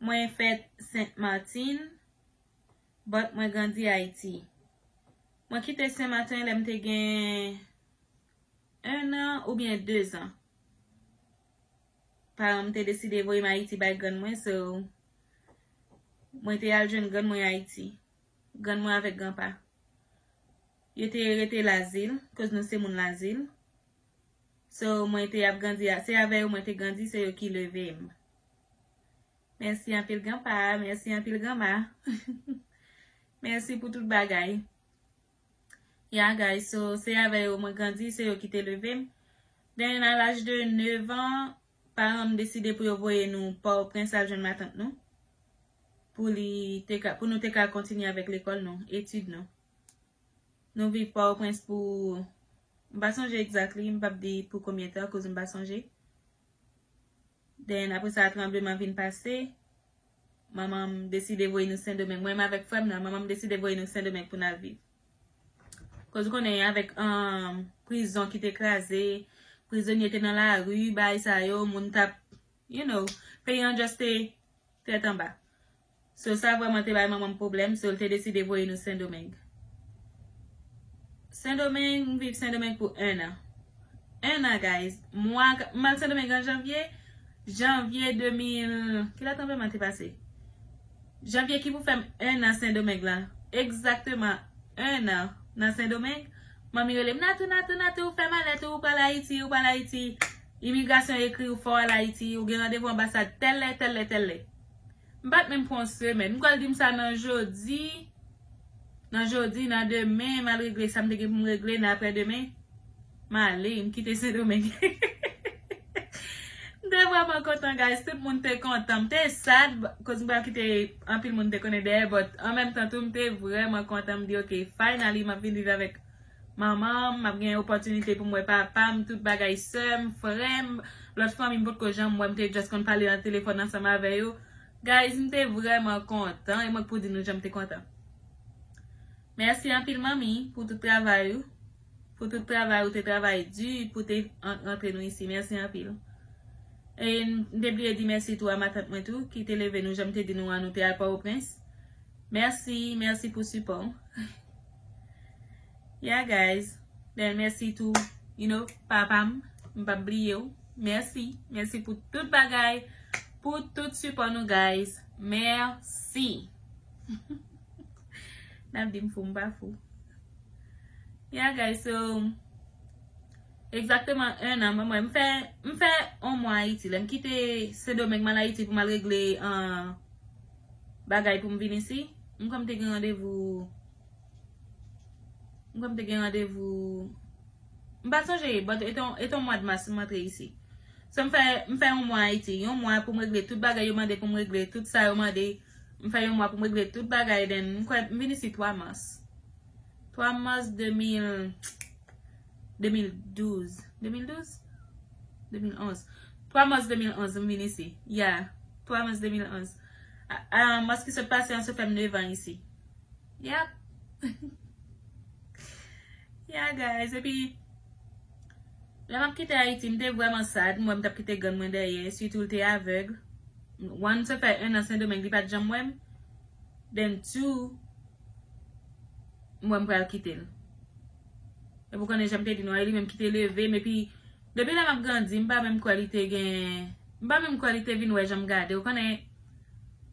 Mwen fèt Sent Matin, but mwen grandi Ayiti. Mwen kite Sen Maten lè m te gen 1 an oubyen 2 zan. Paran m te deside voye m Ayiti bay grann mwen, so mwen te al jwenn grann mwen Ayiti. Grann mwen avèk granpa. Yo te rete Lazil, koz nou se moun Lazil. So mwen te ap grandi a, se avè yo mwen te grandi, se yo ki leve m. Mèsi anpil gran pa, mèsi anpil gran ma. Mèsi pou tout bagay. Yeah guys, so se avè yo mwen grandi, se yo ki te leve m. Den a laj de 9 an, paran m deside pou yo voye nou Pòtoprens al jwenn matant nou. Pou li te ka, pou nou te ka kontinye avèk lekòl nou, etid nou. Nou viv Port-au-Prince pou m pa sonje exactly, m pap di pou konbyen tan koz m pa sonje. Then apre sa tranbleman vin pase, manman m deside voye nou Sendomeng. Mwen menm avèk frè m nan, manman m deside voye nou Sendomeng pou n al viv. Koz ou konnen avèk prizon ki te kraze, prizonye te nan lari, bagay sa yo, moun t ap, you know, peyi an just te tèt anba. So sa vreman te bay manmanm pwoblem so l te deside voye nou sendomeng. Sendomeng m viv sendomeng pou 1 an. 1 an guys mwa m al sendomeng an janvye janvye 2000 ki lè tranbleman te pase janvye ki pou fèm 1 an sendomeng lan egzakteman 1 an nan sendomeng manmi rele m natou natou natou fè malèt ou ou pral ayiti ou pral ayiti imigrasyon ekri w fè w al ayiti ou gen randevou anbasad tèl lè tèl lè tèl lè. M pat menm pran yon semèn. M pral di m sa nan jodi, nan jodi, nan demen, m al regle sa m te gen pou m regle, nan aprè demen, m ale, m kite Sendomeng. M te vrèman kontan guys, tout moun te kontan. M te sad koz m pral kite anpil moun m te konnen dèyè but an menm tan tou m te vrèman kontan m di ok finally m ap vin viv avèk Manmanm, map gen opòtinite poum wè papam, tout bagay sèm, frèm, lòt fanmi m potko janm wè m te just konn pale nan telefòn ansanm avè yo guys m te vrèman kontan e mwen k pou di nou janm te kontan Mèsi anpil manmi pou tout travay ou pou tout travay ou te travay di pou te antre nou isi mèsi anpil e m te bliye di mèsi tou a matant mwen tou ki te leve nou janm te di nou an nou te al pòwoprens mèsi mèsi pou sipò ou. Yeah guys, bèl mèsi tou you know papa m, m pap bliye w, mèsi, mèsi pou tout bagay, pou tout sipò nou guys, mèsi. Nap di m fou m pa fou. Yeah guys so Exactement 1 an mwen mwen m fè m fè 1 mwa Ayiti lèm kite Sendomeng mal Ayiti pou mal regle an bagay pou m vin isi? M kwè m te gen randevou M kwè m te gen randevou M pa sonje but e te yon mwad mas m antre isi So m fè m fè yon mwa Ayiti Yon mwa pou m regle tout bagay yo mande pou m regle tout sa yo mande M fè yon mwa pou m regle tout bagay then m kwè m vin isi 3 mas 3 mas 2000 2012 2012? 2011 3 mars 2011 m vin isi Ya 3 mars 2011 A mars ki sot pase an se fè m 9 an isi Yap Ya guys epi Lè m ap kite Ayiti m te vrèman sad M wè m t ap kite grann mwen dèyè sitou l te avèg One m te fè 1 an Sendomeng li pa t janm wè m Then two M wè m pral kite l Epi ou konnen jan m te di nou a, e li menm ki te leve m, epi depi lè m ap grandi, m pa menm kwè li te gen, m pa menm kwè li te vin wè jan m gade, ou konnen,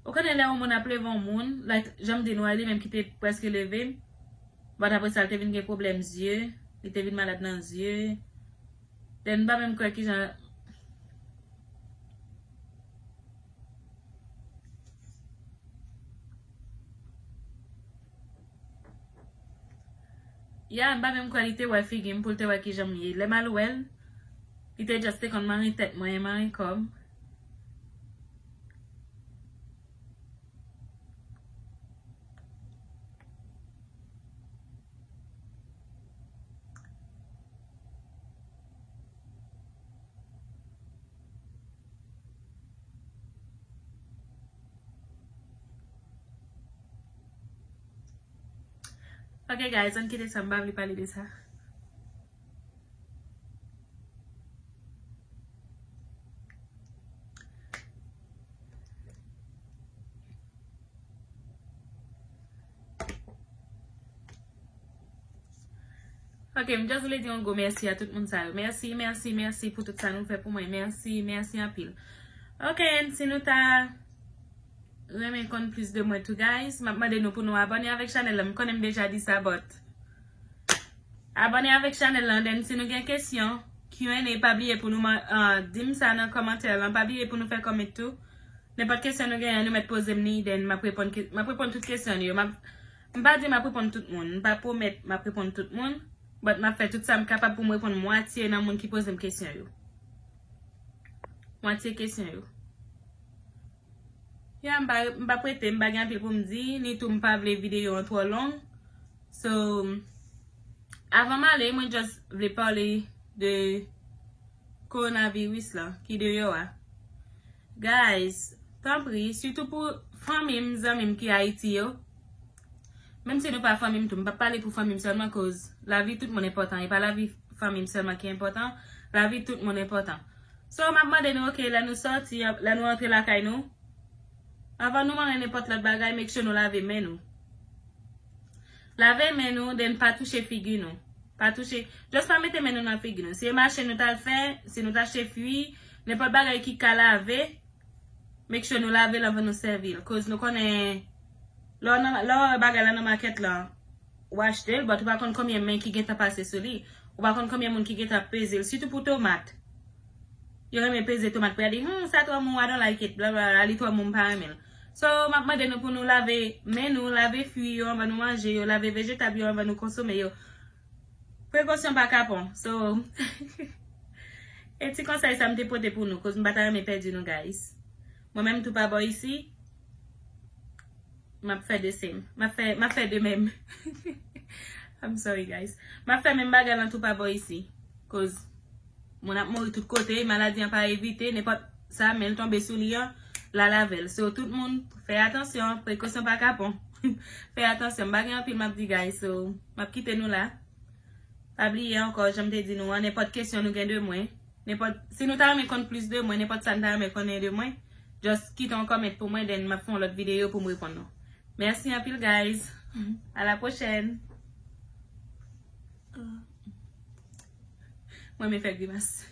ou konnen lè yon moun ap leve yon moun, like jan m di nou a, e li menm ki te prèske leve m, but apre sa l te vin gen pwoblèm zye, li te vin malad nan zye, then m pa menm kwè kijan, Ya m pa menm kwè li te wè figi m pou l te wè kijan m ye. Lè m al wè l, li te just te konn mare tèt mwen e mare kò m. Ok guys ann kite sa m pa vle pale de sa. Ok, m just vle di yon gwo mèsi a tout moun sa yo. Mèsi, mèsi, mèsi pou tout sa nou fè pou mwen. Mèsi, mèsi anpil. Ok, si nou ta... renmen konn plis de mwen tou guys map mande nou pou nou abone avèk chanèl lan m konnen m deja di sa but abone avèk chanèl lan then si nou gen kesyon Q&A pa bliye pou nou dim sa nan kòmantè lan pa bliye pou nou fè comment tou nenpòt kesyon nou genyen nou mèt poze m li then map reponn tout kesyon nou yo m pa di map reponn tout moun m pa pwomèt map reponn tout moun but map fè tout sa m kapab pou m reponn mwatye nan moun ki poze m kesyon yo. Mwatye kesyon yo. Ya m pa prete, m pa gen anpil pou m di, ni tou m pa vle videyo an twò long. So, avan m ale, mwen just vle pale de coronavirus la ki deyò a. Guys, tanpri, sitou pou fanmi m, zanmi m ki Ayiti yo, Menm si nou pa fanmi m tou, m pap pale pou fanmi m sèlman koz lavi tout moun enpòtan, e pa lavi fanmi m sèlman ki enpòtan, lavi tout moun enpòtan. So, m ap mande nou ok lè nou sòti, lè nou antre lakay nou, avan nou manyen nenpòt lòt bagay make sure nou lave men nou. Lave men nou then pa touche figi nou. Pa touche, just pa mete men nou nan figi nou. Si e mache nou tal fè, si nou t achte fui, nenpòt bagay ki ka lave, make sure nou lave l anvan nou sèvi l koz nou konnen. Lè w wè bagay la nan makèt la, w achte l, but ou pa konn konbyen men ki gentan pase sou li. Ou pa konn konbyen moun ki gentan ap peze l, sitou pou tomat. Yo renmen peze tomat pou y a di, Humm, sa twò mou, I don't like it, blablabla, li twò mou, m pa renmen l. So, m ap mande nou pou nou lave men nou, lave fwi yo anvan nou manje yo, lave vejetab yo anvan nou konsome yo. Prekosyon pa kapon. So, e ti konsèy sa m te pote pou nou, koz m pa ta renmen pèdi nou guys. Mwen menm tou pa bò isi. Map fè de sem. Map fè de menm. I'm sorry guys. Map fè menm bagay lan tou pa bò isi. Koz moun ap mouri tout kote. Maladi an pa evite. Nenpòt sa men l tonbe sou li an. La lavel. So tout moun fè atansyon. Prekosyon pa kapon. Fè atansyon. M pa gen anpil map di guys. So map kite nou la. Pa bliye ankò janm te di nou an. Nenpòt kesyon nou gen de mwen. Nenpòt, si nou ta renmen konn plis de mwen, nenpòt sa n ta renmen konnen de mwen, just kite yon comment pou mwen then map fè yon lòt video poum reponn nou. Merci anpil guys. A la pwochèn. Mwen renmen fè grimas.